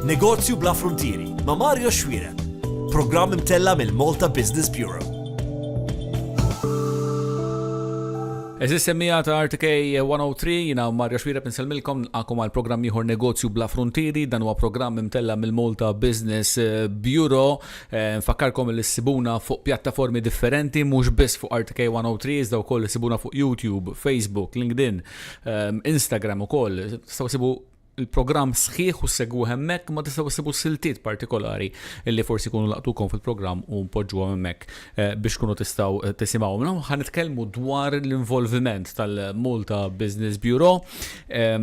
Negozju bla fruntieri ma' Mario Xwireb. Programm imtella' mill-Malta Business Bureau. Eżis semmija ta' RTK 103, jina Mario Xwireb nsellmilkom nqakom għal programm ieħor Negozju bla Fruntieri, dan huwa programm imtella' mill-Malta Business eh, Bureau. Eh, nfakkarkom li ssibuna fuq pjattaformi differenti, mhux biss fuq RTK 103, iżda wkoll issibuna fuq YouTube, Facebook, LinkedIn, Instagram ukoll, tistgħu sibu il-programm sħiħ u segwu hemmhekk ma tistgħu ssibu siltiet partikolari li forsi jkunu laqtukom fil-programm u npoġġu hemmhekk eh, biex kunu tistgħu eh, tisimgħu. Naw ħan nitkellmu dwar l-involviment tal-Malta Business Bureau eh,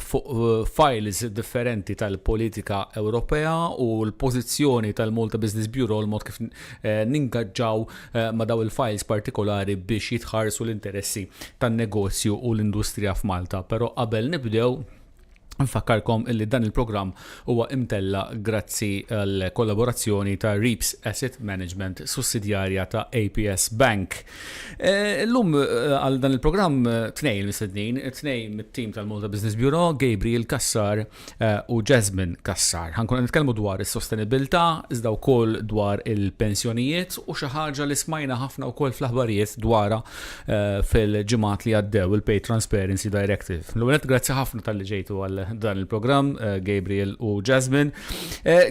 fuq files differenti tal-politika Ewropea u l-pożizzjoni tal-Malta Business Bureau l-mod kif ningaġġaw ma' dawn il-fajls partikolari biex jitħarsu l-interessi tan-negozju u l-industrija f'Malta. Però qabel nibdew, infakkarkom illi dan il-programm huwa imtella' grazzi għall-kollaborazzjoni ta' Reaps Asset Management, sussidjarja ta' APS Bank. Illum għal dan il-programm tnejn mistednin, tnejn mit-tim tal-Malta Business Bureau, Gabriel Cassar u Jasmine Cassar. Ħankun qed nitkellmu dwar is-sostenibilità, iżda wkoll dwar il-pensjonijiet u xi ħaġa li smajna ħafna wkoll fl-aħbarijiet dwarha fil-ġimgħat li għaddew il-Pay Transparency Directive. L-ewwel grazzi ħafna talli ġejtu għal dan il-programm, Gabriel u Jasmine.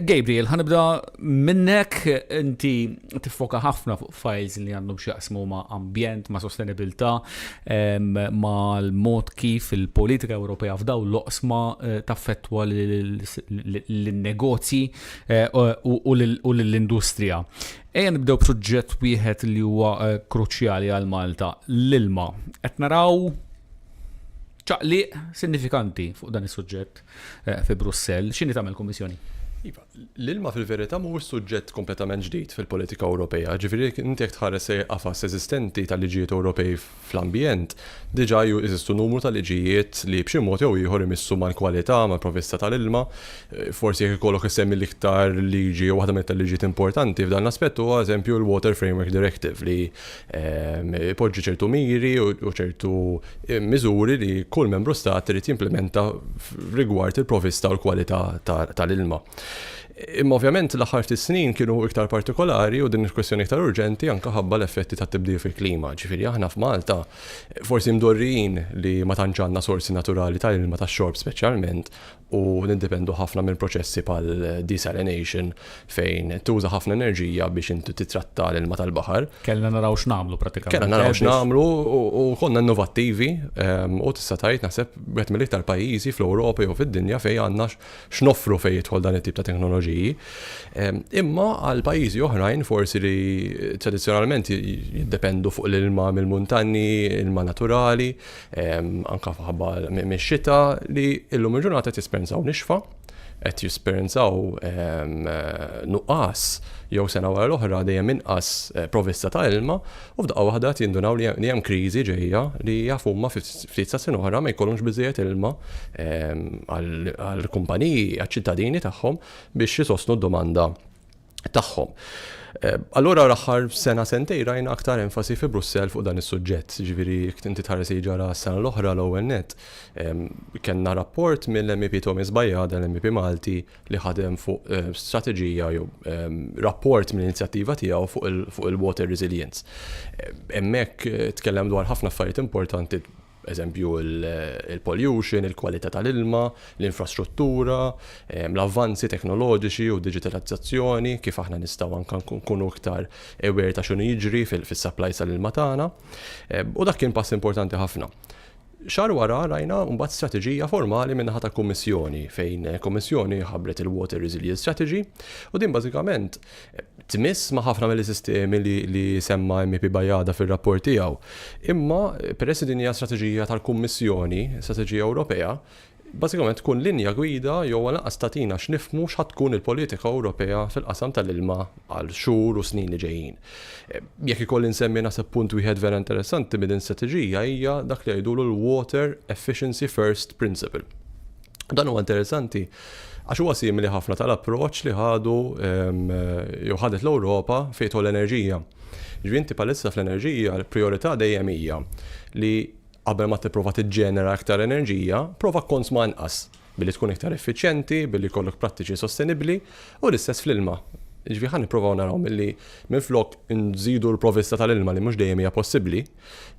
Gabriel, ħanibda minnek inti tiffoka ħafna fuq f'fajls li għandhom x'jaqsmu ma' ambjent, ma' sostenibilità, mal-mod kif il-politika Ewropea f'dawn l-oqsma taffettwa lin-negozji u lill-industrija. Ejja nibdew b'suġġett wieħed li huwa kruċjali għal Malta, l-ilma. Qed naraw. Ċaqliq sinifikanti fuq dan is-suġġett fi Brussell. X'inhi tagħmel il-Kummissjoni? Iva, l-ilma fil-verità mhuwiex suġġett kompletament ġdid fil-politika Ewropea. Ġifieri inti jekk tħares lejn il-qafas eżistenti tal-liġijiet Ewropej fl-ambjent, diġà jeżistu numru ta' liġijiet li b'xi mod jew ieħor imissu mal-kwalità, mal-provvista tal-ilma. Forsi jekk ikollok issemmi l-iktar liġi jew waħda mill-iktar liġijiet importanti f'dan l-aspett huwa, eżempju, il-Water Framework Directive li ipoġġi ċertu miri u ċertu miżuri li kull Membru Stat irid jimplimenta rigward il-provista u l-kwalità tal-ilma. Imma ovvjament l-aħħar ftit snin kienu iktar partikolari u din il-kwistjoni iktar urġenti anke ħabba l-effetti tat-tibdil fil-klima. Ġifieri aħna f'Malta forsi mdorrijin li ma tantx għandna sorsi naturali ta' ilma tax-xorb speċjalment u niddependu ħafna minn proċessi bħal desalination fejn tuża ħafna enerġija biex inti titratta l-ilma tal-baħar. Kellna naraw x'nagħmlu pratikament. Kellna naraw x'nagħmlu u konna innovattivi ehm, u tista' tgħid naħseb wieħed mill-iktar pajjiżi fl-Ewropa jew fid-dinja fejn għandna x'noffru fejn jidħol dan it-tip ta' teknoloġiji. Ehm, imma għal pajjiżi oħrajn forsi li tradizzjonalment jiddependu fuq l-ilma mill-muntanni, ilma naturali, anke f'ħabba mix-xita li illum il-ġurnata qed jesperjenzaw nixfa, qed jesperjenzaw nuqqas jew sena wara l-oħra dejjem inqas eh, provista ta' ilma u f'daqqa waħda qed jindunaw li hemm kriżi ġejja li jafu ma ftit sa sena oħra ma jkollhomx biżejjed ilma għall-kumpaniji, għaċ-ċittadini tagħhom biex jisostnu d-domanda tagħhom. Eh, allura l-aħħar sena sentej rajna aktar enfasi fi Brussel fuq dan is-suġġett, ġifieri inti tħares ġara s-sena l-oħra l-ewwel net. Kenna rapport mill-MEP Thomas Bajada, l-MEP Malti, li ħadem fuq eh, strateġija jew rapport mill-inizjattiva tiegħu fuq il-water resilience. Hemmhekk eh, tkellem dwar ħafna affarijiet importanti eżempju il-pollution, il-kwalità tal-ilma, l-infrastruttura, l-avvanzi teknoloġiċi u d-diġitalizzazzjoni, kif aħna nistgħu anke nkunu iktar aware ta' x'inhu jiġri fis-supplies tal-ilma tagħna. U dak kien pass importanti ħafna. Xahar wara rajna mbagħad strateġija formali min-naħa tal-Kummissjoni fejn il-Kummissjoni ħabbret il-Water Resilience Strategy u din bażikament tmiss ma' ħafna mill-sistemi li semma MEP Bajada fir-rapport tiegħu. Imma peress li din hija strateġija tal-Kummissjoni, strateġija Ewropea, bażikament tkun linja gwida jew għalanqas tagħtina x'nifhmu x'ħadd tkun il-politika Ewropea fil-qasam tal-ilma għal xhur u snin li ġejjin. Jekk ikolli nsemmi naħseb punt wieħed vera interessanti minn din l-istrateġija hija dak li jgħidulu l-water efficiency first principle. Dan huwa interessanti għax huwa simili ħafna tal-approċċ li ħadu ehm, jew ħadet l-Ewropa fejn l-enerġija. Ġifieri inti palissa fl-enerġija l-prijorità dejjem hija li qabel ma tipprova tiġġenera aktar enerġija, prova konsma anqas billi tkun iktar effiċjenti, billi kollok prattiċi sostenibbli u l-istess fl-ilma. Ġvi ħan niprofaw naraw mill-li minn flok nżidu l-provista tal-ilma li mux dejjem hija possibbli,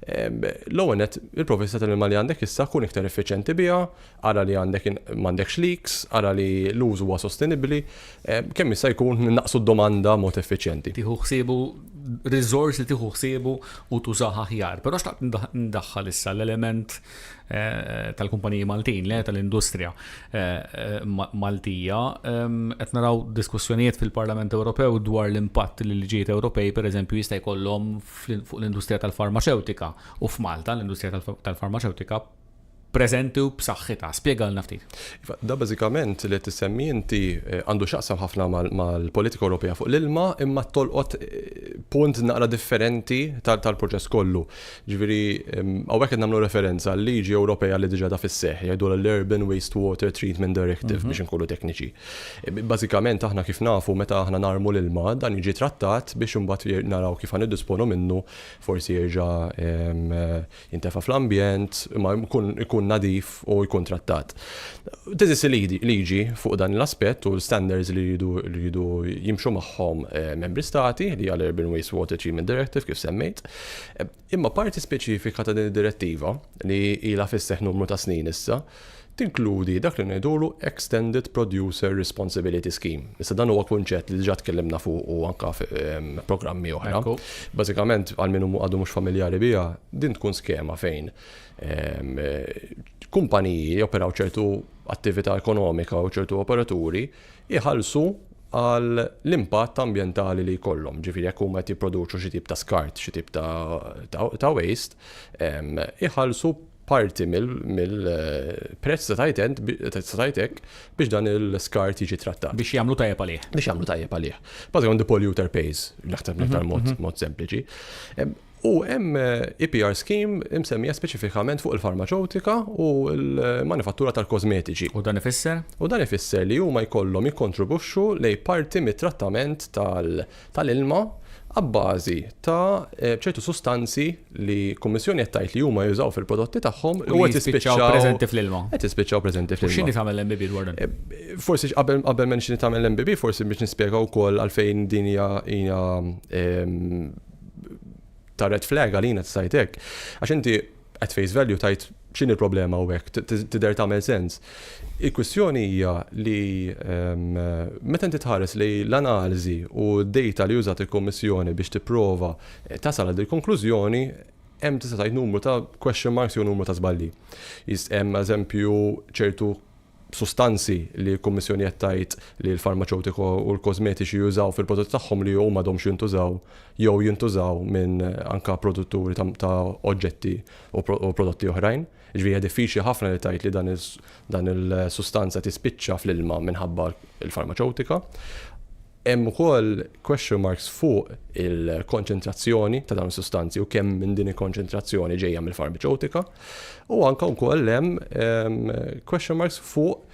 L-ewwel nett, il-provvista tal-ilma li għandek issa kun iktar effiċjenti biha, ara li għandek m'għandekx leaks, ara li l-użu huwa sostenibbli, kemm jista' jkun innaqsu d-domanda b'mod effiċjenti. Tieħu ħsiebu riżors li tieħu ħsiebu u tużah aħjar. Però xtaqt indaħħal issa l-element tal-kumpaniji Maltin, le tal-industrija Maltija. Qed naraw diskussjonijiet fil-Parlament Ewropew dwar l-impatt li l-liġijiet Ewropej, pereżempju, jista' jkollhom fuq l-industrija tal-farmaċewtika u f'Malta l-industrija tal-farmaċewtika preżenti u b'saħħitha. Spjegalna ftit. Iva, da bażikament li qed issemmi inti eh, għandu x'aqsam ħafna mal-politika Ewropea fuq l-ilma imma tolqot eh, punt naqra differenti tal-proċess kollu. Ġifieri hawnhekk qed nagħmlu referenza għal liġi Ewropea li diġà da fis-seħħ jgħidu l-Urban Wastewater Treatment Directive mhm. biex inkunu tekniċi. Bażikament aħna kif nafu meta aħna narmu l-ilma dan jiġi trattat biex imbagħad naraw kif ħa niddisponu minnu forsi jerġa' jintefa' fl-ambjent imma jkun nadif u jkun trattat. Teżisti liġi fuq dan l-aspett u l-standards li jridu jimxu magħhom Membri Stati li hija l-Urban Waste Water Treatment Directive kif semmejt. Imma parti speċifika ta' din id-Direttiva, li ilha fis-seħħ numru ta' snin issa, tinkludi dak li ngħidulu extended producer responsibility scheme. Issa dan huwa kunċett li diġà tkellimna fuqu anke f'programmi oħra. Bażikament, għal min għadu mhux familjari biha, din tkun skema fejn kumpaniji joperaw ċertu attività ekonomika u ċertu operaturi, iħallsu għal l-impatt ambjentali li jkollhom. Ġifieri jekk huma qed jipproduċu xi tip ta' skart, xi tip ta' waste, iħallsu parti mill-prezz ta' tgħid int, ta' tgħid hekk, biex dan il-skart jiġi trattat. Biex jagħmlu tajjeb għalih. Biex jagħmlu tajjeb għalih. Bażikament the polluter pays, naħseb l-iktar mod sempliċi. U hemm EPR scheme imsemmija speċifikament fuq il-farmaċewtika u l-manifattura tal-kożmetiċi. U dan ifisser? U dan ifisser li huma jkollhom jikkontribwixxu lejn parti mit-trattament tal-ilma abbażi ta' ċertu sustanzi li l-Kummissjoni qed tgħid li huma jużaw fil-prodotti tagħhom u qed jispiċċaw preżenti fl-ilma. Qed jispiċċaw preżenti fl-ilma. X'inhi tagħmel l-MBB dwar dan? Forsi qabel qabel m'hemmx x'inhi tagħmel l-MBB, forsi biex nispjega wkoll għalfejn din hija ta' red flag għalina tista' tgħid hekk. Għax inti at face value tajt x'inhi l-problema u hekk, tidher tagħmel sens. Il-kwistjoni hija li ehm, meta inti tħares li l-analiżi u d-data li użat il-Kommissjoni biex tipprova eh, tasal għal il-konklużjoni hemm tista' tgħid numru ta' question marks jew numru ta' żballi. Hemm eżempju ċertu sustanzi li l-Kummissjoni qed tgħid li l-farmaċewtika u l-kożmetiċi jużaw fil-prodotti tagħhom li huma għadhomx jintużaw jew jintużaw minn anke produtturi ta' oġġetti u prodotti oħrajn. Jiġifieri hija diffiċli ħafna li tgħid li dan il-sustanza tispiċċa fl-ilma minħabba l-farmaċewtika. Hemm ukoll question marks fuq il-konċentrazzjoni ta' dawn is-sustanzi u kemm minn din il-konċentrazzjoni ġejja mill-farmaceutika u anke wkoll hemm question marks fuq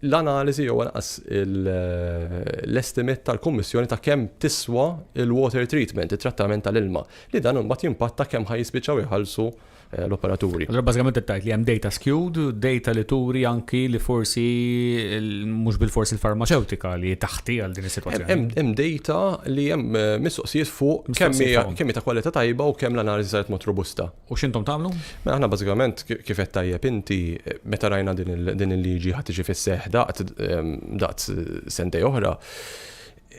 l-analiżi jew anqas l-estimate tal-Kummissjoni ta' kemm tiswa l-water treatment, it-trattament tal-ilma, li dan imbagħad jimpatta kemm ħa jispiċċaw iħallsu Eh, l-operaturi. Allora bażikament qed tgħid li hemm data skewed, data li turi anki li forsi mhux bil-forsi l-farmaceutika li taħti għal din is-sitwazzjoni. Hemm data li hemm eh, mistoqsijiet fuq kemm ta' kwalità tajba u kemm l-analiżi saret mod robusta. U x'intom tagħmlu? Mela aħna bażikament kif qed tajjeb inti eh, meta rajna din il-liġi ħadd tiġi fis-seħ daqt sentej oħra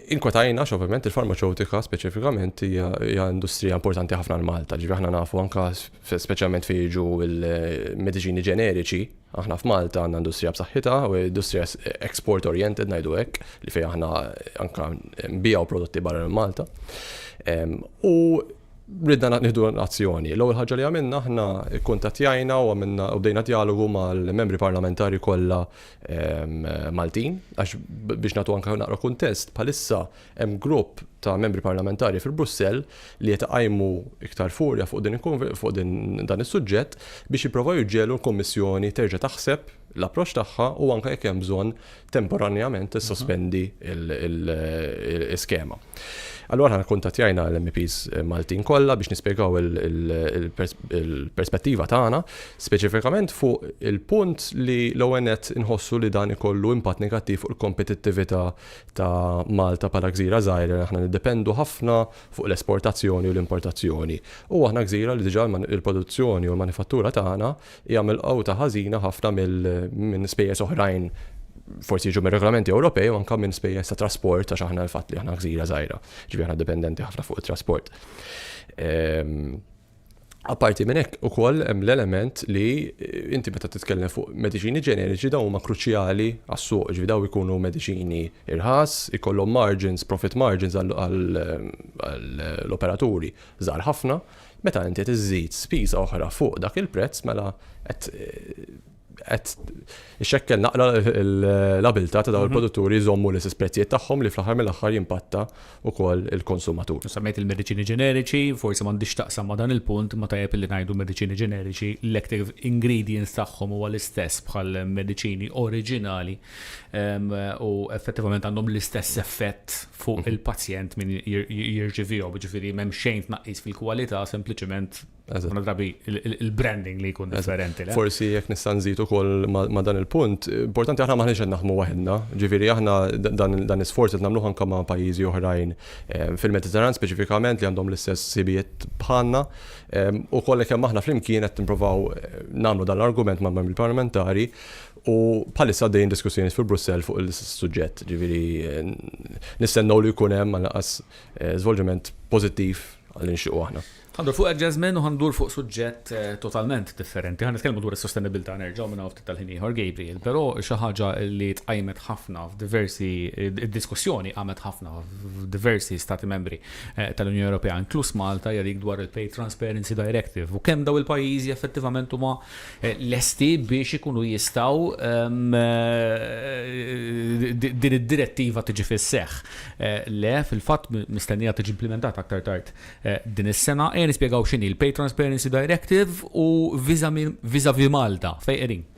Inkwetajna għax ovvjament il-farmaċewtika speċifikament hija industrija importanti ħafna għal Malta. Ġifieri aħna nafu anke speċjalment fejn jiġu l-mediċini ġeneriċi, aħna f'Malta għandna industrija b'saħħitha u industrija export oriented ngħidu hekk li fejn aħna anke nbigħu prodotti barra minn Malta. U ridna nieħdu azzjoni. L-ewwel ħaġa li għamilna aħna kkuntattjajna u għamilna u bdejna djalogu mal-membri parlamentari kollha Maltin, għax biex natu anka naqra kuntest, bħalissa hemm grupp ta' membri parlamentari fil-Brussell li qed iqajmu iktar furja fuq din fuq din dan is-suġġett biex jipprovaw jiġġelu l-Kummissjoni terġa' taħseb l-approċċ tagħha u anke jekk hemm bżonn temporanjament tissospendi l-iskema. Allura aħna kkuntattjajna l-MEPs Maltin kollha biex nispjegaw il-perspettiva tagħna, speċifikament fuq il-punt li l-ewwel nett inħossu li dan ikollu impatt negattiv fuq il-kompetittività ta' Malta bħala gżira żgħira li aħna niddependu ħafna fuq l-esportazzjoni u l-importazzjoni. U aħna gżira li diġà l-produzzjoni u l-manifattura tagħna hija milqugħta ħażina ħafna minn spejjeż oħrajn forsi jiġu mir-regolamenti Ewropej u anke minn spejjeż ta' trasport għax aħna l-fatt li aħna gżira żgħira, ġifieri aħna dipendenti ħafna fuq it-trasport. Ehm, Apparti minn hekk ukoll hemm l-element li eh, inti meta titkellem fuq mediċini ġeneriċi dawn huma kruċjali għas-suq, ġifi daw ikunu mediċini irħas, ikollhom margins, profit margins għall-operaturi żgħar ħafna, Meta inti tiżżid spiża oħra fuq dak il-prezz mela qed qed ixekkel naqra l-abilità ta' dawn mhm. il-produtturi jżommu l istess prezzijiet tagħhom li fl-aħħar mill-aħħar jimpatta wkoll il-konsumatur. Semmejt il-mediċini ġeneriċi, forsi m'għandix taqsam ma' dan il-punt ma tajjeb li ngħidu mediċini ġeneriċi, l-active ingredients tagħhom huwa l-istess bħal mediċini oriġinali ehm, u effettivament għandhom l-istess effett fuq il-pazjent min jirċivihom, ġifieri m'hemm xejn tnaqqis fil-kwalità, sempliċement drabi il-branding li jkun differenti. Forsi jekk nista' nżid ukoll ma' dan il-punt, importanti aħna maħniex qed naħdmu waħedna, ġifieri aħna dan l-isforz qed nagħmluh anke ma' pajjiżi oħrajn fil-Mediterran speċifikament li għandhom l-istess ħsibijiet bħalna. Ukoll kemm aħna flimkien qed nippruvaw nagħmlu dan l-argument mal-Membri Parlamentari U bħalissa għaddejjin diskussjonijiet fi Brussell fuq l-istess suġġett, jiġifieri nistennew li jkun hemm għall-anqas żvolġiment pożittiv li nixtiequ aħna. Ħa ndur fuq Jasmine u ħa ndur fuq suġġett totalment differenti. Ħa nitkellmu dwar is-sostenibbiltà nerġgħu minn hawn ftit tal-ħin ieħor, Gabriel. Però xi ħaġa li tqajmet ħafna f'diversi, id-diskussjoni qamet ħafna f'diversi Stati Membri tal-Unjoni Ewropea, inkluż Malta, hija dik dwar il-Pay Transparency Directive u kemm dawn il-pajjiżi effettivament huma lesti biex ikunu jistgħu din id-Direttiva tiġi fis-seħħ. Le, fil-fatt mistennija tiġi implimentata aktar tard din is-sena. Ejja nispjegaw x'inhi l-Pay Transparency Directive u vizavi Malta, fejn qegħdin.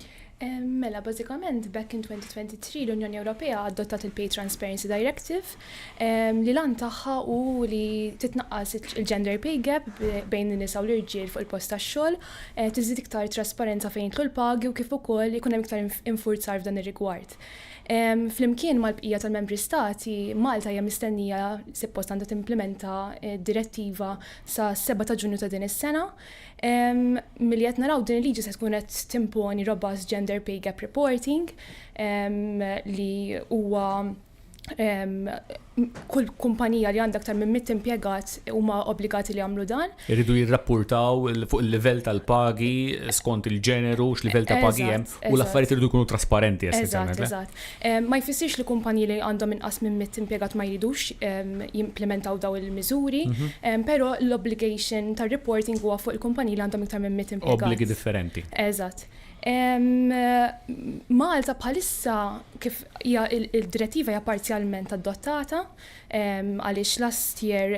Mela, bażikament b'hekk in 2023 l-Unjoni Ewropea adottat il-Pay Transparency Directive li l-għan tagħha hu li titnaqqas il-gender pay gap bejn in-nisa u l-irġiel fuq il-post tax-xogħol, tiżdied iktar trasparenza fejn jidħlu l-pagi u kif ukoll ikun hemm iktar infurzar f'dan ir-rigward. Flimkien mal-bqija tal-Membri Stati, Malta hija mistennija, suppost għandha timplimenta d-Direttiva sas-7 ta' Ġunju ta' din is-sena. Milli qed naraw din il-liġi se tkun qed timponi robust gender pay gap reporting li huwa kull kumpanija li għandha aktar minn mitt impjegat huma obbligati li jagħmlu dan. Iridu jirrappurtaw fuq il-livell tal-pagi skont il-ġeneru, x'livell ta' pagi hemm u l-affarijiet iridu jkunu trasparenti essenzjalment. Eżatt, eżatt. Ma jfissirx li kumpaniji li għandhom inqas minn mitt impjegat ma jridux jimplimentaw dawn il-miżuri, mhm. però l-obligation tar-reporting huwa fuq il-kumpaniji li għandhom iktar minn mitt impjegat. Obbligi differenti. Eżatt. Malta bħalissa kif Hija d-Direttiva hija parzjalment adottata għaliex last year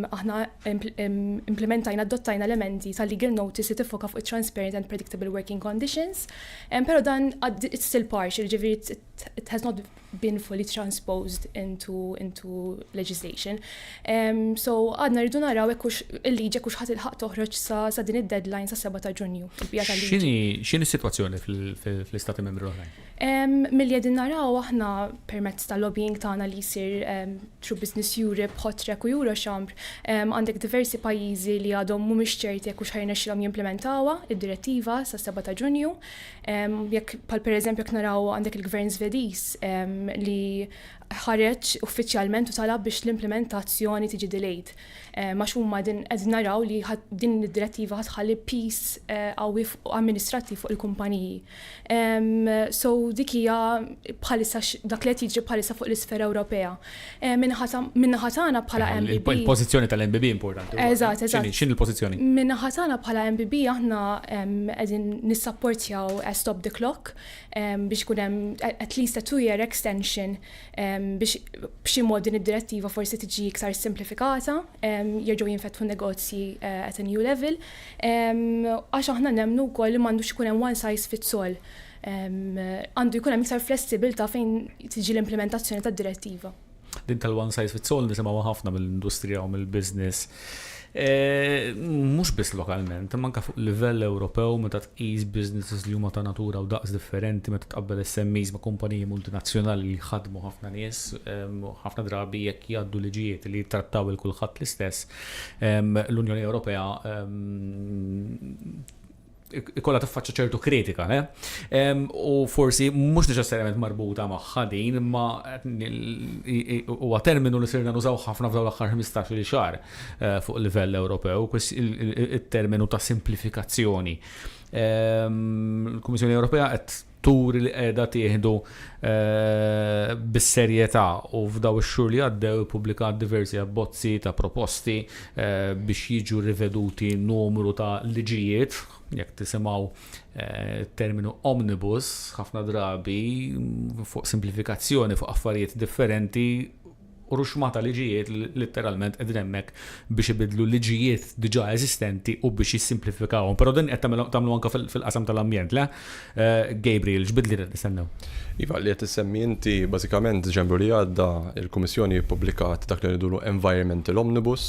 aħna implementajna adottajna l-emendi tal-legal notice li tiffoka fuq it-transparent and predictable working conditions. Però dan it's still partial, ġifieri it has not been fully transposed into, into legislation. Um, so għadna rridu naraw ekkux il-liġi ekkux ħat il-ħaq toħroġ sa, sa din id-deadline sa' 7 ta' ġunju. Xini situazzjoni fl-istati membri oħrajn? Milli qegħdin naraw aħna permezz tal-lobbying tagħna li jsir through Business Europe, Hotrec u Eurochamber, għandek diversi pajjiżi li għadhom mhumiex ċerti jekk hux ħajrnexxilhom jimplementawha id-direttiva sas-seba' ta' Ġunju. Jekk bħal pereżempju jekk naraw għandek il-Gvern Żvediż li ħareġ uffiċjalment u talab biex l-implementazzjoni tiġi delayed. Ehm, għax huma din qed naraw li din id-direttiva ħatħalli pis eh, qawwi amministrattiv fuq il-kumpaniji. Ehm, so dik hija bħalissa dak li qed jiġri bħalissa fuq l-isfera Ewropea. Ehm, Minnaħa tagħna bħala MBB. Il-pożizzjoni tal-MBB importanti. Eżatt, eżatt. X'in il-pożizzjoni? Minnaħa tagħna bħala MBB aħna qegħdin nissapportjaw Stop the Clock biex kun hemm at least a two-year extension biex b'xi mod din id-direttiva forsi tiġi iktar simplifikata, jerġgħu jinfetħu negozji eh, at a new level, għax aħna nemnu wkoll li m'għandux ikun hemm one size fits all. Għandu jkun hemm iktar flessibilta fejn tiġi l-implementazzjoni tad-direttiva. Din tal-one size fits all nisimgħu ħafna mill-industrija u mill-business. Eh, mhux biss lokalment, manka fuq livell Ewropew meta Qis businesses li huma ta' natura u daqs differenti meta tqabbel SMEs ma' kumpaniji multinazzjonali li jħaddmu ħafna nies, ħafna drabi jekk jgħaddu liġijiet li jittrattaw lil kulħadd l-istess, l-Unjoni Ewropea jkollha tiffaċċja ċertu kritika, le? U forsi mhux neċessarjament marbuta magħha din, imma huwa terminu li sirna nużaw ħafna f'dawn l-aħħar ħmistax-il xahar. fuq livell Ewropew, it-terminu ta' simplifikazzjoni. Il-Kummissjoni Ewropea qed turi li qiegħda tieħdu bis-serjetà u f'dawn ix-xhur li għaddew ippubblikat diversi abbozzi ta' proposti biex jiġu riveduti numru ta' liġijiet. Jekk tisimgħu t-terminu omnibus, ħafna drabi fuq simplifikazzjoni fuq affarijiet differenti, u ruxma ta' liġijiet li litteralment qegħdin hemmhekk biex ibiddlu liġijiet diġà eżistenti u biex jissimplifikawhom. Però din qed tagħmlu anke fil-qasam tal-ambjent, le? Gabriel, x'bidliet qed nistennew? Iva, li qed issemmi inti, bażikament Diċembru li għadda l-Kummissjoni ppubblikat dak li ngħidulu Environmental Omnibus.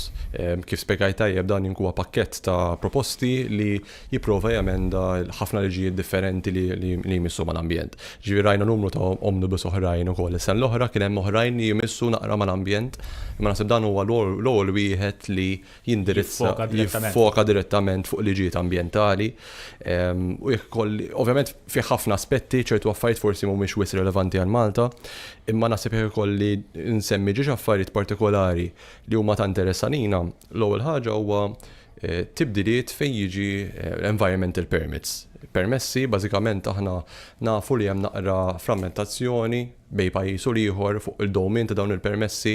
Kif spjegajt tajjeb dan huwa pakkett ta' proposti li jipprova jemenda l-ħafna liġijiet differenti li jmissu mal-ambjent. Jiġifieri rajna numru ta' omnibus oħrajn ukoll is-sena l-oħra, kien hemm oħrajn li jmissu naqra mal-ambjent, imma naħseb dan huwa l-ewwel wieħed li jindirizza, jiffoka direttament fuq liġijiet ambjentali. U jekk ikolli, ovvjament fih ħafna aspetti, ċertu affarijiet forsi mhumiex wisq relevanti għal Malta, imma naħseb jekk ikolli nsemmi ġiex affarijiet partikolari li huma ta' interess għalina, L-ewwel ħaġa huwa tibdiliet fejn jiġi environmental permits. Permessi, bażikament aħna nafu li hemm naqra frammentazzjoni bejn pajjiż u l-ieħor fuq il-dowmin ta' dawn il-permessi,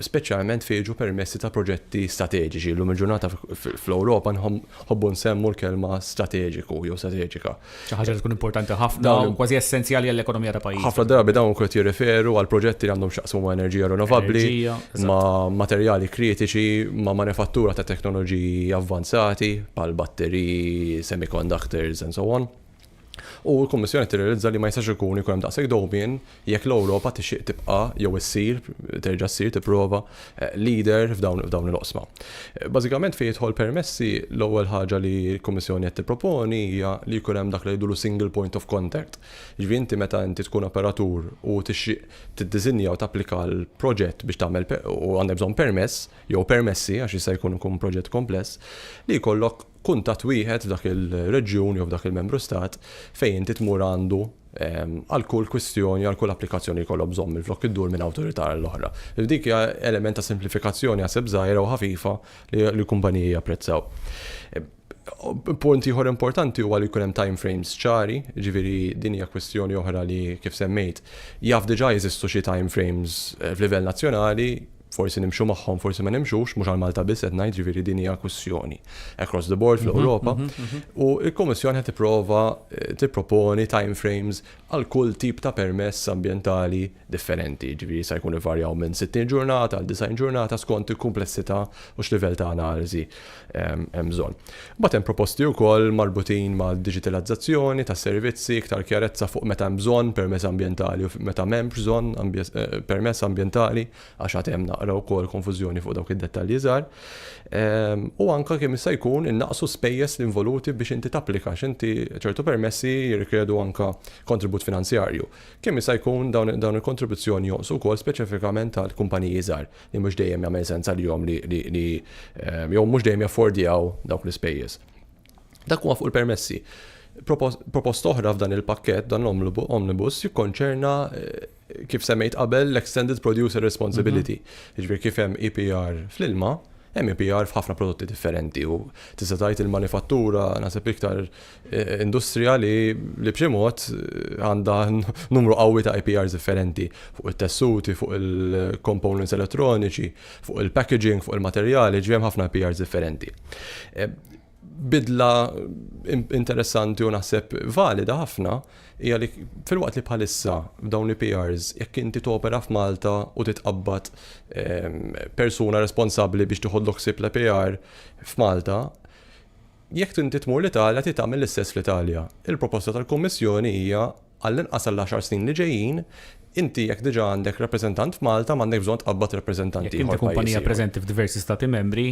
speċjalment fejn jiġu permessi ta' proġetti strateġiċi. Illum il-ġurnata fl-Ewropa nħobbu nsemmu l-kelma strateġiku jew strateġika. Xi ħaġa li tkun importanti ħafna u kważi essenzjali għall-ekonomija ta' pajjiż. Ħafna drabi dawn ukoll jirreferu għal proġetti li għandhom x'jaqsmu ma' enerġija rinnovabbli, ma' materjali kritiċi, ma' manifattura ta' teknoloġiji avvanzati bħal batteriji, semiconductors and so on. U l-Kummissjoni tirrealizza li ma jistax ikun ikun hemm daqshekk dewmien Jekk l-Ewropa tixtieq tibqa' jew issir, terġa' ssir, tipprova, leader f'dawn il-oqsma. Bażikament fejn jidħol permessi, l-ewwel ħaġa li l-Kummissjoni qed tipproponi hija li jkun hemm dak li ngħidulu single point of contact. Jiġifieri inti meta inti tkun operatur u tixtieq tiddiżinja u tapplika għal proġett biex tagħmel u għandek bżonn permess jew permessi għax jista' jkun ikun proġett kompless, li jkollok kuntatt wieħed f'dak il-reġjun jew f'dak il-Membru Stat fejn inti tmur għandu għal kull kwistjoni, għal kull applikazzjoni li jkollok bżonn minflok iddur minn awtorità għal oħra. Dik hija element ta' simplifikazzjoni għaseb żgħira u ħafifa li l-kumpaniji japprezzaw. Punt ieħor importanti huwa li jkun hemm time frames ċari, ġifieri din hija kwistjoni oħra li kif semmejt jaf diġà jeżistu xi time frames f'livell nazzjonali, Forsi nimxu magħhom, forsi ma nimxux, mhux għal Malta biss qed ngħid, ġifieri din hija kwistjoni across the board fl-Ewropa. U l-Kummissjoni qed tipprova eh, tipproponi time frames għal kull tip ta' permess ambjentali differenti, ġifieri se jkun ivarjaw minn 60 ġurnata għal 90 ġurnata skont il-kumplessità u x'livell ta' analiżi. hemm bżonn. Mbagħad hemm proposti wkoll marbutin mal-diġitalizzazzjoni tas-servizzi, iktar kjarezza fuq meta hemm bżonn permess ambjentali u meta m'hemmx bżonn eh, permess ambjentali għax għad hemm naqra wkoll konfużjoni fuq dawk id-dettalji żgħar. Ehm, u anke kemm jista' jkun innaqsu spejjeż l-involuti biex inti tapplika x'inti ċertu permessi jirrikjedu anke kontribut finanzjarju. Kemm jista' jkun dawn il-kontribuzzjoni jonqsu wkoll speċifikament għall-kumpaniji żgħar. li mhux dejjem jagħmel sens għalihom li jew mhux dejjem jaffordjaw dawk l-ispejjeż. Dak huwa fuq il-permessi. Proposta oħra f'dan il-pakket dan l-omnibus jikkonċerna eh, kif semmejt qabel l-Extended Producer Responsibility. Mhm. Ġifieri kif hemm EPR fl-ilma, hemm EPR f'ħafna prodotti differenti u tista' tgħid il-manifattura naħseb iktar industrija li b'xi mod għandha numru qawwi ta' IPRs differenti fuq it-tessuti, fuq il-components elettroniċi, fuq il-packaging, fuq il-materjali, ġifieri hemm ħafna IPRs differenti. Bidla interessanti u naħseb valida ħafna hija li filwaqt li bħalissa f'dawn l-IPRs jekk inti topera f'Malta u titqabbad persuna responsabbli biex tieħodlok ħsieb l-IPR f'Malta, Jekk inti tmur l-Italja trid tagħmel l-istess fl-Italja. Il-proposta tal-Kummissjoni hija, għall-inqas għall-għaxar snin li ġejjin, inti jekk diġà għandek rappreżentant f'Malta m'għandekx bżonn tqabbad rappreżentant Jekk ieħor inti f'pajjiż kumpanija ieħor. preżenti f'diversi Stati Membri,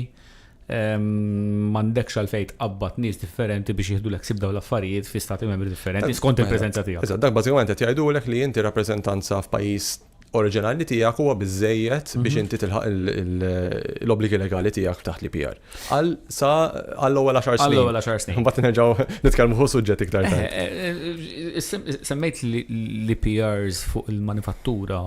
m'għandekx għalfejn tqabbad nies differenti biex jieħdulek ħsieb dawn l-affarijiet fi Stati Membri differenti, skont il-preżenza tiegħek. Eżatt, dak bażikament qed jgħidulek li inti rappreżentanza f'pajjiż oriġinali tiegħek huwa biżejjed biex mhm. inti tilħaq l-obbligi legali tiegħek taħt li PR. Għal sa għall-ewwel 10 snin. Għall-ewwel 10 snin. Mbagħad nerġgħu nitkellmu fuq suġġett iktar tard. Eh, eh, eh, semmejt li PRs fuq il-manifattura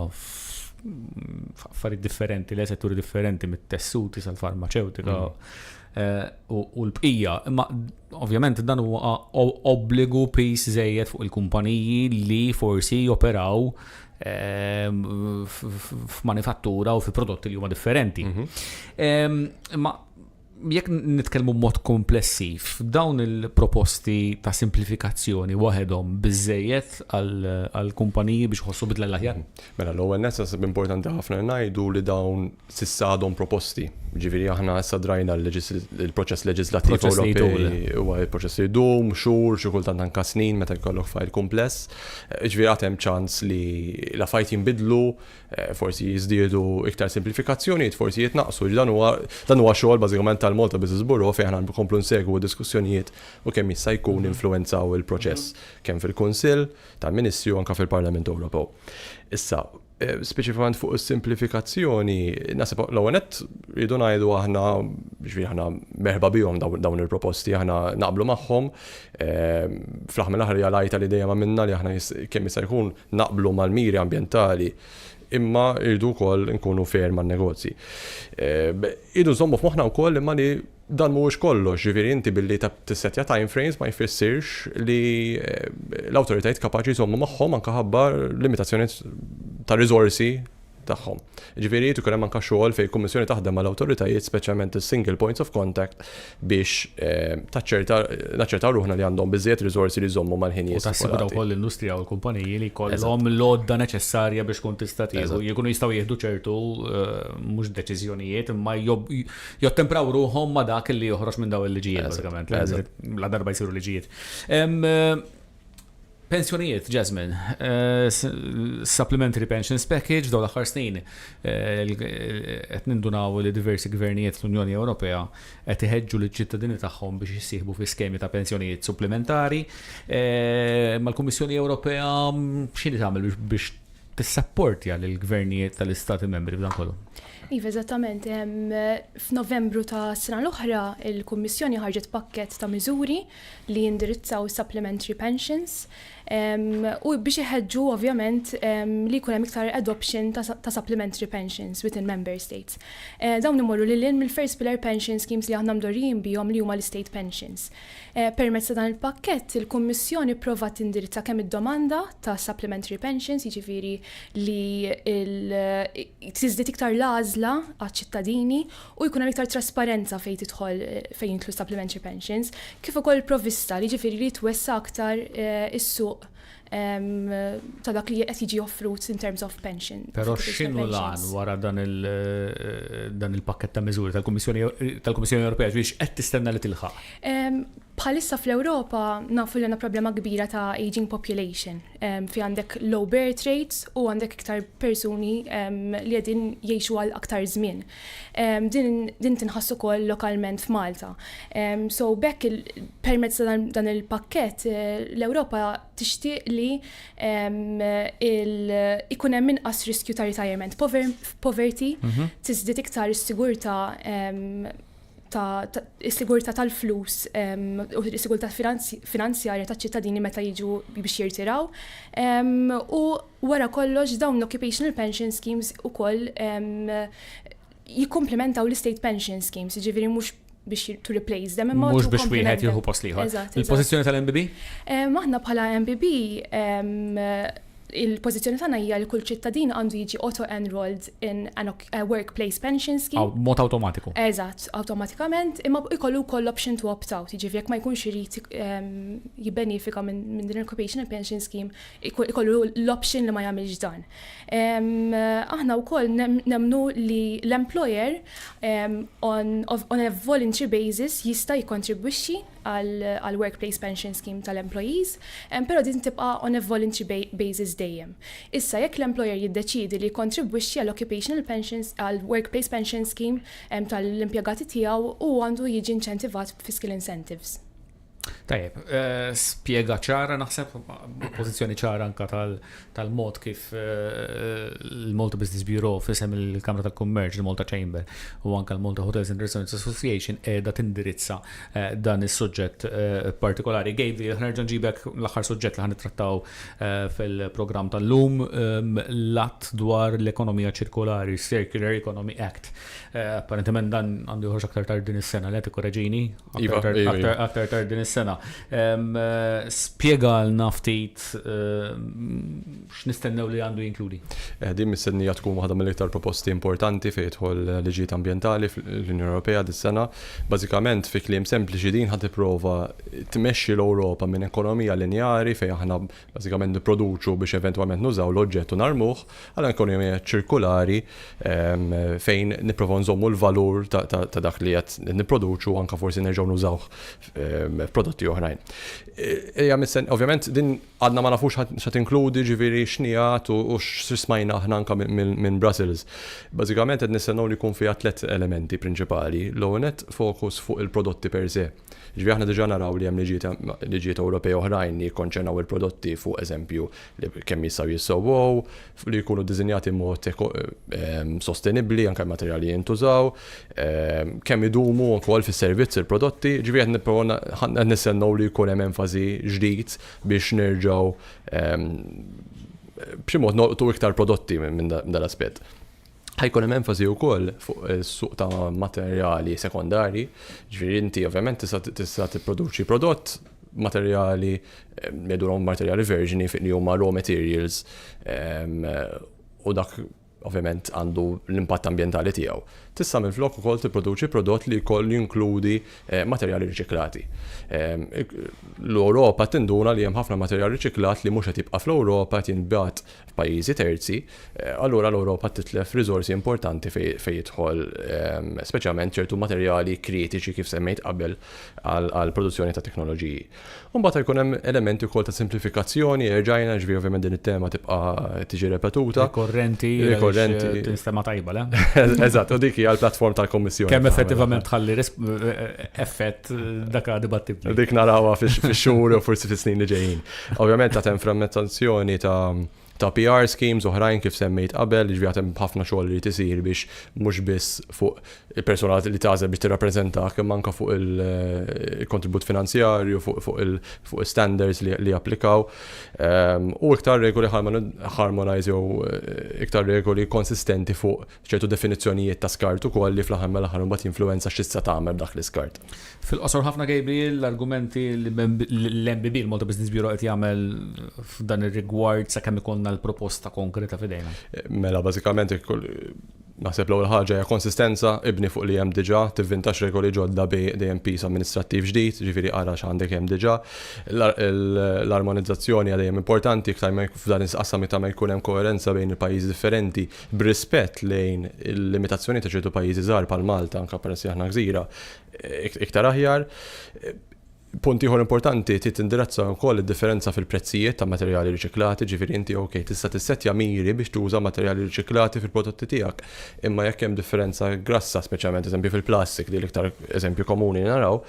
affarijiet differenti, le setturi differenti mit-tessuti sal-farmaceutika mhm. u l-bqija. Imma Ovvjament dan huwa obbligu piż żejjed fuq il-kumpaniji li forsi joperaw ehm, f'manifattura u fi prodotti li huma differenti. Mhm. Ehm, ma jekk nitkellmu mod komplessiv, dawn il-proposti ta' simplifikazzjoni waħedhom biżejjed għal-kumpaniji biex ħossu bidla l-aħjar? Mhm. Mela, l-ewwel nessas importanti ħafna ngħidu li dawn s'issa għadhom proposti. Jiġifieri aħna issa drajna l-proċess leġiżlattiv Ewropej huwa proċess li jdum xhur, xi kultant anke snin meta jkollok fajl kumpless. Jiġifieri għad hemm ċans li l-affarijiet jinbidlu, forsi jiżdiedu iktar simplifikazzjonijiet, forsi jitnaqqsu. Dan huwa dan huwa xogħol bażikament tal-Malta Business Bureau fejn aħna nkomplu nsegwu d-diskussjonijiet u kemm jista' jkun ninfluwenzaw il-proċess kemm fil-Kunsill tal-Ministri u anke fil-Parlament Ewropew. Issa, Eh, speċifikament fuq is-simplifikazzjoni, nasib l-ewwel nett rridu ngħidu aħna ġifieri aħna merħba bihom dawn il-proposti aħna naqblu magħhom. Eh, fl-aħħar mill-aħħar hija lajta li dejjem għamilna li aħna kemm jista' jkun naqblu mal-miri ambjentali imma irdu wkoll nkunu fair man-negozji. Eh, irdu żommu f'moħħna wkoll imma li Dan mhuwiex kollox, jiġifieri inti billi tissettja time frames ma jfissirx li l-awtoritajiet kapaċi jżommu magħhom anke ħabba limitazzjonijiet ta' riżorsi tagħhom. Jiġifieri jrid ikun hemm anke xogħol fejn il-Kummissjoni taħdem mal-awtoritajiet, speċjalment is-single points of contact biex taċċerta, naċċertaw ruħna li għandhom biżżejjed riżorsi li jżommu mal-ħinijiet stipulati. U tassigura wkoll l-industrija u l-kumpaniji li jkollhom l-għodda neċessarja biex tkun tista' tieħu, jkunu jistgħu jieħdu ċertu mhux deċiżjonijiet imma jottempraw ruħhom ma' dak li joħroġ minn daw il-liġijiet, bażikament, la darba jsiru liġijiet. Pensjonijiet, Jasmine, eh, supplementary pensions package daw l-aħħar snin eh, qed nindunaw li diversi gvernijiet l-Unjoni Ewropea qed iħeġġu liċ ċittadini tagħhom biex jissieħbu fi skemi ta' pensjonijiet supplementari. Eh, mal-Kummissjoni Ewropea mm, x'inhi tagħmel biex tissapportja lill-gvernijiet tal-Istati membri b'dan kollu? Iva, eżattament. F'Novembru tas-sena l-oħra, il-Kummissjoni ħarġet pakkett ta' miżuri li jindirizzaw is-supplementary pensions u biex iħeġġu ovvjament li jkun hemm iktar adoption ta' supplementary pensions within member states. Dawn imorru lil hinn mill-first pillar pension schemes li aħna mdorrijin bihom li huma l-state pensions. Permezz ta' dan il-pakkett, il-Kummissjoni pprovat tindirizza kemm id-domanda ta' supplementary pensions, jiġifieri li tiżdied iktar l-għażla għaċ-ċittadini u jkun hemm iktar trasparenza fejn tidħol fejn jidħlu supplementary pensions, kif ukoll il-provvista, jiġifieri li jitwessa' aktar is-suq ta' dak li qed jiġi offrut in terms of pension. Però x'inhu l-għan wara dan il-pakkett ta' miżuri tal-Kummissjoni Ewropea biex qed tistenna li tilħaq? Bħalissa fl-Ewropa nafu li għandna problema kbira ta' aging population fi għandek low birth rates u għandek iktar persuni li qegħdin jgħixu għal aktar żmien. Din tinħass ukoll lokalment f'Malta. So bekk permezz ta' dan il-pakkett l-Ewropa tixtieq li ikun hemm inqas riskju ta' retirement poverty, mhm. tiżdied iktar is-sigurtà tas-sigurtà tal-flus u s-sigurtà finanzjarja taċ-ċittadini meta jiġu biex jirtiraw. U wara kollox dawn l-occupational pension schemes ukoll jikkomplementaw l-state pension schemes, jiġifieri mhux biex to replace them. Mhux biex wieħed jieħu post l-ieħor. Il-pożizzjoni tal-MBB? Aħna bħala MBB il-pożizzjoni tagħna hija li kull ċittadin għandu jiġi auto-enrolled in an eh, workplace pension scheme. Mod automatiku. Eżatt, automatikament, imma ikollu wkoll option to opt out, jiġifieri jekk ma jkunx irid ehm, jibbenefika minn din il-occupational pension scheme, ikollu l-option li ma jagħmilx dan. Ehm, aħna wkoll nemnu li l-employer ehm, on, on a voluntary basis jista' jikkontribwixxi għall-Workplace Pension Scheme tal-employees, però din tibqa' on a voluntary basis dejjem. Issa, jekk l-employer jiddeċiedi li jikkontribwixxi għall-occupational pensions, għall-workplace pension scheme tal-impjegati tiegħu, hu għandu jiġi inċentivat b'fiscal incentives. Tajjeb, spjega ċara naħseb, pożizzjoni ċara anke tal-mod kif l-Malta Business Bureau f'isem il-Kamra tal-Kummerċ, il-Malta Chamber u anke l-Malta Hotels and Restaurants Association qiegħda tindirizza dan is-suġġett partikolari. Gavin, aħna nerġa' nġibek l-aħħar suġġett li ħa nittrattaw fil-programm tal-lum, l-Att dwar l-Ekonomija Ċirkolari, Circular Economy Act. Apparentement dan għandu joħroġ aktar tard din is-sena, le tikkoreġini? Iva, aktar iva, iva. tard din is-sena. Spjegalna ftit x'nistennew li għandu jinkludi. Eh, din mistennija tkun waħda mill-iktar proposti importanti fejn jidħol liġijiet ambjentali fl-Unjoni Ewropea dis-sena. Bażikament fi kliem sempliċi din ħad tipprova tmexxi l-Ewropa minn ekonomija linjari fejn aħna bażikament nipproduċu biex eventwalment nużaw l-oġġett u narmuh, għal ekonomija ċirkulari fejn nipprovaw nżommu l-valur ta' dak li qed nipproduċu u anke forsi nerġgħu nużawh f'prodotti oħrajn. Hija mistenni, ovvjament din għadna ma nafux x'se tinkludi, jiġifieri x'inhi għad u x'smajna aħna anke minn Brussels. Bażikament qed nistennew li jkun fiha tliet elementi prinċipali. L-ewwel nett, fokus fuq il-prodotti per se. Jiġifieri aħna diġà naraw li hemm liġijiet Ewropej oħrajn li jikkonċernaw il-prodotti fuq eżempju kemm jistgħu jissewwew, li jkunu ddisinjati b'mod sostenibbli anke l-materjali li jintużaw, kemm idumu wkoll fis-servizz il-prodotti. Jiġifieri qed nipprovaw qed nistennew li jkun hemm enfasi ġdid biex nerġgħu b'xi mod nolqtu iktar prodotti minn dan l-aspett. Ħajkun hemm enfasi wkoll fuq is-suq ta' materjali sekondarji, ġifieri inti ovvjament tista' tipproduċi prodott materjali jedulhom materjali verġni fiq li huma raw materials ehm, u dak ovvjament għandu l-impatt ambjentali tiegħu. Tista' minflok ukoll tipproduċi prodott li jkoll jinkludi eh, materjali riċiklati. Ehm, L-Ewropa tinduna li hemm ħafna materjal riċiklat li mhux qed jibqa' fl-Ewropa qed jinbgħat f'pajjiżi terzi, allura l-Ewropa titlef riżorsi importanti fejn jidħol speċjalment ċertu materjali kritiċi kif semmejt qabel għall-produzzjoni ta' teknoloġiji. U mbagħad jkun hemm elementi wkoll ta' simplifikazzjoni, erġajna ġifieri ovvjament din it-tema tibqa' tiġi repetuta. Rikorrenti, rikorrenti. Tinstema' tajba, le? Eżatt, u dik hija l-platform tal-Kummissjoni. Kemm effettivament tħalli effett dak dibattibbli. Dik narawha fix-xhur u forsi fis-snin li ġejjin. Ovvjament għad hemm frammentazzjoni ta' PR schemes oħrajn kif semmejt qabel, jiġri għad hemm ħafna xogħol li tisir biex mhux biss fuq il-persuna li tagħżel biex tirrappreżentak imma anke fuq il-kontribut finanzjarju, fuq il-standards li japplikaw. U iktar regoli harmonized jew iktar regoli konsistenti fuq ċertu definizzjonijiet ta' skart ukoll li fl-aħħar mill-aħħar imbagħad jinfluwenza x'tista' tagħmel b'dak l-iskart. Fil-qosor ħafna Gabriel, l-argumenti li l-MBB, il-Malta Business Bureau qed jagħmel f'dan ir-rigward sakemm ikollna l-proposta konkreta f'idejna. Mela bażikament naħseb l-ewwel ħaġa hija konsistenza, ibni fuq li hemm diġà, tivvintax regoli ġodda bi dejjem piż amministrattiv ġdid, ġifieri ara x'għandek hemm diġà. L-armonizzazzjoni hija dejjem importanti iktar ma f'dan is-qasam iktar ma jkun hemm koerenza bejn il-pajjiżi differenti, B'rispett lejn il-limitazzjonijiet ta' ċertu pajjiżi żgħar bħal Malta, anke peress li aħna gżira, iktar aħjar. Punt ieħor importanti trid tindirizza wkoll id-differenza fil-prezzijiet ta' materjali riċiklati, ġifieri inti ok tista' tissettja miri biex tuża materjali riċiklati fil-prodotti tiegħek, imma jekk hemm differenza grassa, speċjalment eżempju fil-plastik li l-iktar eżempju komuni li naraw,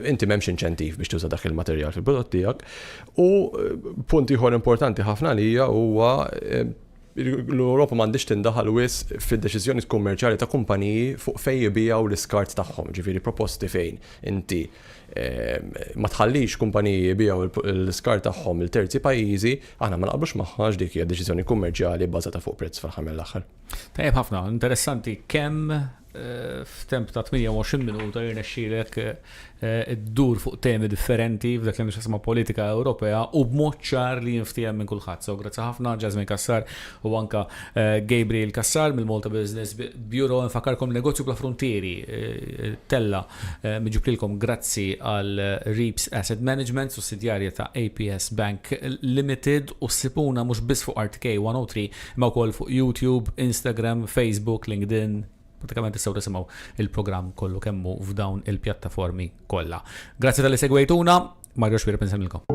inti m'hemmx inċentiv biex tuża dak il-materjal fil-prodott tiegħek. U punt ieħor importanti ħafna għalija huwa L-Ewropa m'għandhiex tindaħal wisq fid-deċiżjonijiet kummerċjali ta' kumpaniji fuq fejn jibigħu l-iskart tagħhom, jiġifieri proposti fejn inti ma tħallix kumpaniji jibigħu l-iskart tagħhom lil terzi pajjiżi, aħna ma naqblux magħha għax dik hija deċiżjoni kummerċjali bbażata fuq prezz fl-aħħar mill-aħħar. Tajjeb ħafna, interessanti kemm F'temp ta' 28 minuta jirnexxielek iddur fuq temi differenti f'dak li għandu x'jaqsam mal-politika Ewropea u b'mod ċar li jinftiehem minn kulħadd. So grazzi ħafna Jasmine Cassar u anke Gabriel Cassar mill-Malta Business Bureau. Infakkarkom li Negozju Bla Fruntieri tella' min ġiblilkom grazzi għal Reaps Asset Management, sussidjarja ta' APS Bank Limited u ssibuna mhux biss fuq RTK 103 Imma wkoll fuq YouTube, Instagram, Facebook, LinkedIn, pratikament tistgħu tisimgħu il-programm kollu kemm hu f'dawn il-pjattaformi kollha. Grazzi talli segwejtuna, Mario Xwireb insemmilkom.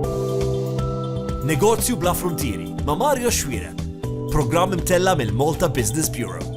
Negozju bla fruntieri ma' Mario Xwireb. Programm imtella mill-Malta Business Bureau.